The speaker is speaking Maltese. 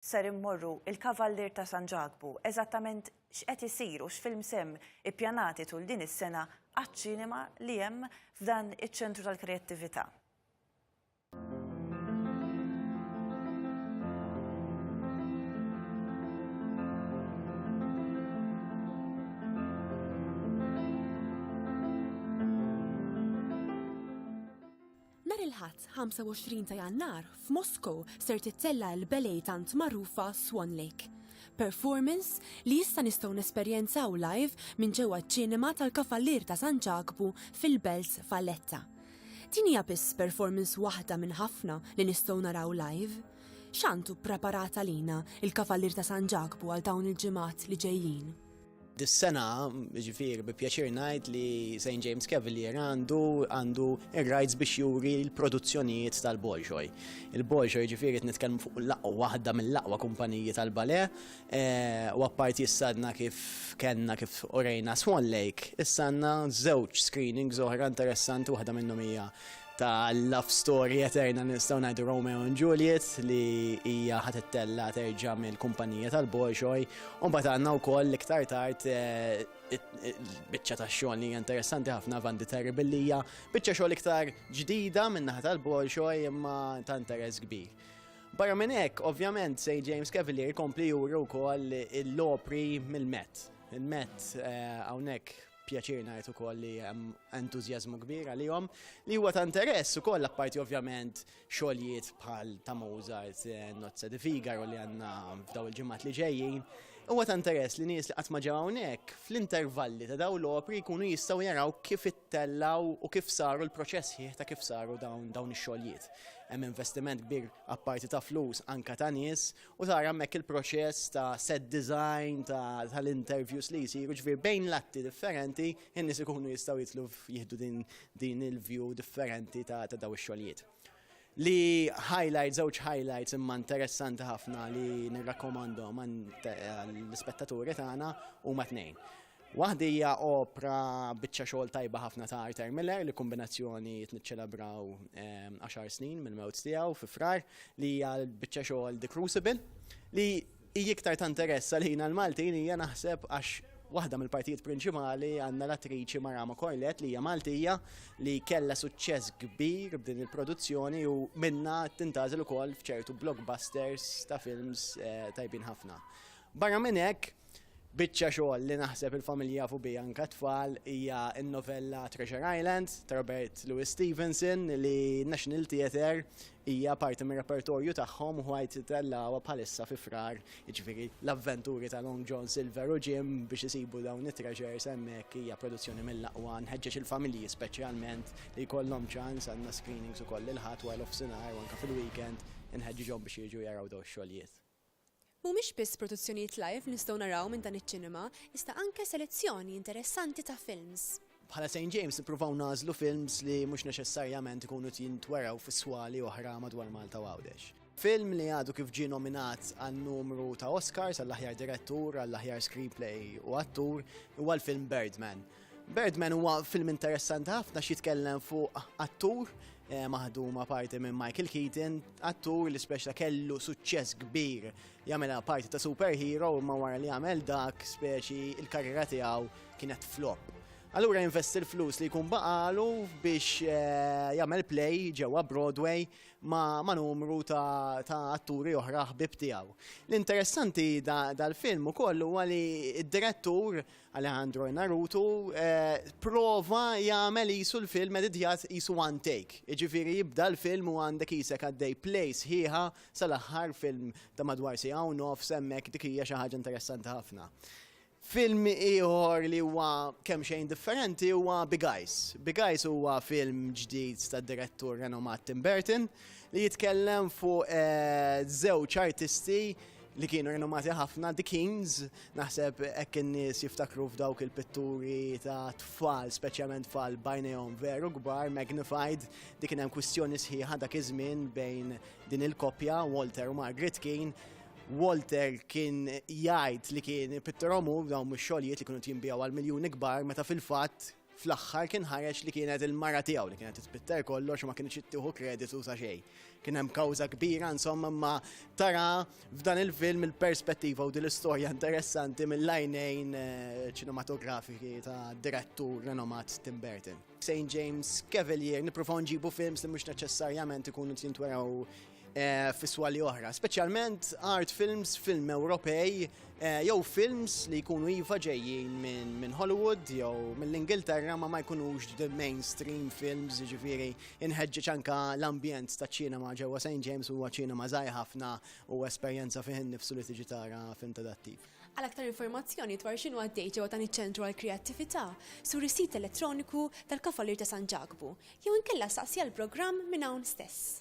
Ser immorru il-Kavallier ta' San Ġakbu, eżattament x'qed isir u x'films hemm ippjanati tul din is-sena għaċ-ċinema li hemm f'dan iċ-Ċentru tal-Kreattività. Nhar il-Ħadd, 25 ta' Jannar, f'Moscow ser tittella' l-ballet tant magħrufa Swan Lake. Performance li issa nistgħu nesperjenzaw live minn ġewwa ċ-Ċinema tal-Kavallier ta' San Ġakbu fil-Belt Valletta. Din hija biss performance waħda minn ħafna li nistgħu naraw live. X'għandu ppreparat għalina l-Kavallier ta' San Ġakbu għal dawn il-ġimgħat li ġejjin? Dis-sena, ġifir, bi pjaċir ngħid li St. James Cavalier għandu għandu ir-rights biex juri l-produzzjonijiet tal-Bolshoi. Il-Bolshoi ġifir qed nitkellmu fuq l-aqwa waħda mill-aqwa kumpaniji tal-bale eh, u apparti jissadna kif kellna kif orejna Swan Lake, issanna żewġ screenings oħra interessanti waħda minnhom hija ta' love story eterna nistgħu ngħidu Romeo and Juliet li hija ħat ittella terġa' mill-kumpanija tal-Bolshoi u mbagħad għandna wkoll iktar tard eh, biċċa ta' xogħol li interessanti ħafna Van di Terri billi hija biċċa xogħol iktar ġdida min-naħa tal-Bolshoi imma ta' interess kbir. Barra minn hekk, ovvjament, St. James Cavalier kompli juru wkoll l-opri mill-Met. Il-Met eh, hawnhekk pjaċir ngħid ukoll li hemm entużjażmu kbir għalihom li huwa ta' interess ukoll apparti ovvjament xogħlijiet bħal ta' Mozart, eh, Nozza di Figaro li għandna f'daw il-ġimgħat li ġejjin. Huwa ta' interess li nies li qatt ma ġew hawnhekk fl-intervalli ta' dawn l-opri jkunu jistgħu jaraw kif ittellaw u kif saru l-proċess ħieħ ta' kif saru dawn dawn ix-xogħlijiet. Hemm investiment kbir apparti ta' flus anka ta' nies u tara hemmhekk il-proċess ta' set design tal-interviews li jsiru ġvir bejn l-atti differenti in-nies ikunu jistgħu jitlu jieħdu din din il-view differenti ta' daw ix-xogħlijiet. Li highlight, żewġ highlights imma interessanti ħafna li nirrakkomandhom għall-ispettaturi tagħna huma tnejn. Waħdi hija opra biċċa xogħol tajba ħafna ta' Arthur Miller li kombinazzjoni tniċċelebraw ehm, għaxar snin mill-mewt tiegħu fi frar li hija biċċa xogħol The Crucible li hija iktar ta' interess għalina l-Maltin hija naħseb għax waħda mill-partijiet prinċipali għandna l-attriċi Marama Corlet li hija Maltija li kellha suċċess kbir b'din il-produzzjoni u minna tintażel ukoll f'ċertu blockbusters ta' films eh, tajbin ħafna. Barra minn hekk, biċċa xogħol li naħseb il-familji jafu biha anke t-tfal hija n-novella Treasure Island ta' Robert Louis Stevenson li n-National Theatre hija parti mir-repertorju tagħhom u ħajt itellgħuha bħalissa fi Frar, jiġifieri l-avventuri ta' Long John Silver u Jim biex isibu dawn it-treasures hemmhekk hija produzzjoni mill-aqwa. Nħeġġeġ il-familji speċjalment li jkollhom ċans, għandna screenings ukoll il-Ħadd wara l-offsinhar u anke fil-weekend, inħeġġiġhom biex jiġu jaraw dawn ix-xogħlijiet. Mhumiex biss produzzjonijiet live li nistgħu naraw minn dan iċ-ċinema, iżda anke selezzjoni interessanti ta' films. Bħala Saint James nippruvaw nagħżlu films li mhux neċessarjament ikunu qed jintwerew fi swali oħra madwar Malta u Għawdex. Film li għadu kif ġie nominat għal numru ta' Oscars għall-aħjar direttur, għall-aħjar screenplay u attur huwa l-film Birdman. Birdman huwa film interessanti ħafna xitkellem fuq attur eh, maħduma parti minn Michael Keaton, attur li speċa kellu suċċess kbir jagħmilha parti ta' superhero imma wara li jagħmel dak speċi il-karriera tiegħu kienet flop. Allura investi l-flus li jkun baqalu biex eh, jagħmel play ġewwa Broadway ma, ma numru ta', ta atturi oħra ħbib tiegħu. L-interessanti dal-film ukoll huwa li d-direttur da Alejandro Inarritu prova jagħmel qisu l-film editjat qisu one take. Jiġifieri jibda l-film u għandek qisek għaddej play sħiħa sal-aħħar film ta' madwar siegħa u nofs hemmhekk dik hija xi ħaġa interessanti ħafna. Film ieħor li huwa kemm xejn differenti huwa Big Eyes. Big Eyes huwa film ġdid tad-direttur renomat Tim Burton li jitkellem fuq żewġ artisti li kienu rinomati ħafna, The Kings, naħseb hekk in-nies jiftakru f'dawk il-pitturi ta' tfal, speċjalment tfal bajnejhom veru kbar, magnified, dik kien hemm kwistjoni sħiħa dak iż-żmien bejn din il-koppja Walter u Margaret King. Walter kien jgħid li kien pittorom u dawn mix-xogħlijiet li kienu jinbijaw għal miljuni kbar meta fil-fatt Fl-aħħar kien ħareġ li kienet il-mara tiegħu li kienet titpitter kollox u ma kienx ittieħu kreditu sa xejn. Kien hemm kawża kbira insomma ma tara f'dan il-film il-perspettiva u din l-istorja interessanti mill-għajnejn eh, ċinematografiki ta' direttur renomat Tim Burton. St. James Cavalier, niprofaw nġibu films li mhux neċessarjament ikunu jintweraw Eh, fiswali oħra, speċjalment art films, film Ewropej, eh, jew films li jkunu iva ġejjin minn Hollywood jew mill-Ingilterra ma ma jkunux the mainstream films, ġifiri inħeġġeġ anka l-ambjent ta' ċinema ġewwa St. James huwa ċinema żgħir ħafna u esperjenza fih innifsu li tiġi tara film tadattiv. Għal aktar informazzjoni dwar xinu għaddej ġewwa dan iċ-ċentru għall-kreattività, sur is-sit elettroniku tal-Kavallier ta' San Ġakbu, Jew inkella staqsi għall-programm minn hawn stess.